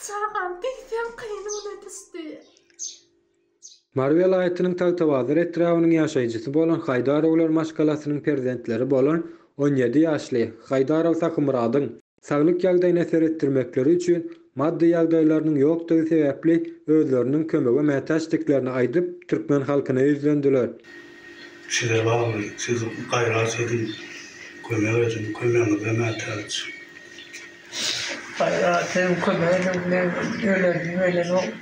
Çagam diýseň gynyna düşdi. Mary welaýatynyň Tagtabazar etrabynyň ýaşaýjysy bolan Haýdarowlar maşgalasynyň perzentleri bolan on ýedi ýaşly Haýdarow Sahymyradyň saglyk ýagdaýyna seretdirmekleri üçin maddy ýagdaýlarynyň ýokdugy sebäpli özleriniň kömege mätäçdiklerini aýdyp, türkmen halkyna ýüzlendiler. Size bagly, siz gaýrat ediň, kömek ediň, kömegiňize mätäç. Gaýrat ediň, kömek ediň, men ölerin-ölerin.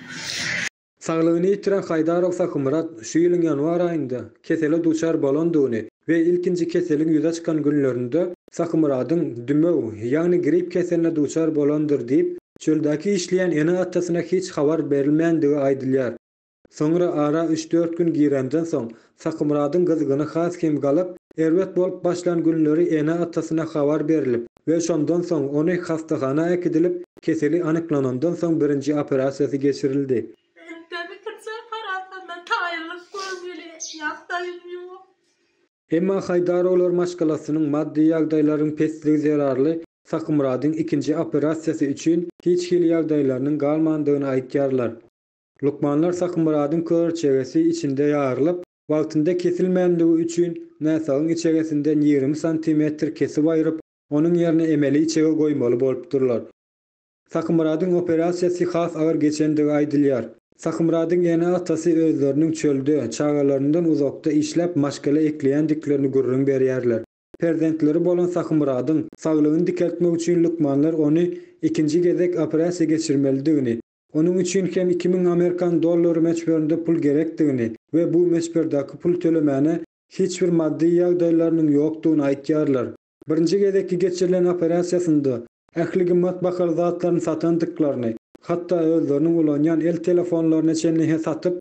Saglygyny ýitiren Haýdarow Sahymyrat şu ýylyň ýanwar aýynda kesele duçar bolandygyny we ilkinji keseliň ýüze çykan günlerinde Sahymyradyň dümew, ýagny grip keseline duçar bolandyr diýip, çöldäki işleýän ene-atasyna hiç habar berilmändigi aýdylýar. Soňra ara üç-dört gün girenden soň, Sakymyradyň gyzgyny has hem galyp, erbet bolup başlan günleri ene-atasyna habar berlip we şondan soň ony hassahana äkidilip, keseli anyklanandan soň birinji operasiýasy geçirildi. Entä bitirjek harasanda taýynlyk görmeli ýagdaýym ýok. Emma Haýdarowlar maşgalasynyň maddy ýagdaýlaryň pesligi zerarly Sakymyradyň ikinji operasiýasy üçin hiç hili ýagdaýlarynyň galmandygyny aýtýarlar. Lukmanlar Sahymyradyň körçegesi içinde ýarylyp, wagtynda kesilmänligi üçin näsagyň içegesinden ýigrimi santimetr kesip aýryp, onuň ýerine emeli içege goýmaly bolupdyrlar. Sahymyradyň operasiýasy has agyr geçendigi aýdylýar. Sahymyradyň ene-atasy özleriniň çölde, çagalaryndan uzakda işläp maşgala ekleýändiklerini gürrüň berýärler. Perzentleri bolan Sahymyradyň saglygyny dikeltmek üçin lukmanlar ony ikinji gezek operasiýa geçirmelidigini, Onuň üçin hem iki müň amerikan dollary möçberinde pul gerekdigini we bu möçberdäki pul tölemäne hiç bir maddy ýagdaýlarynyň ýokdugyny aýtýarlar. Birinji gezekki geçirilen operasiýasynda ähli gymmat bahaly zatlaryny satandyklaryny, hatda özleriniň ulanýan el telefonlaryny çenli-hä satyp,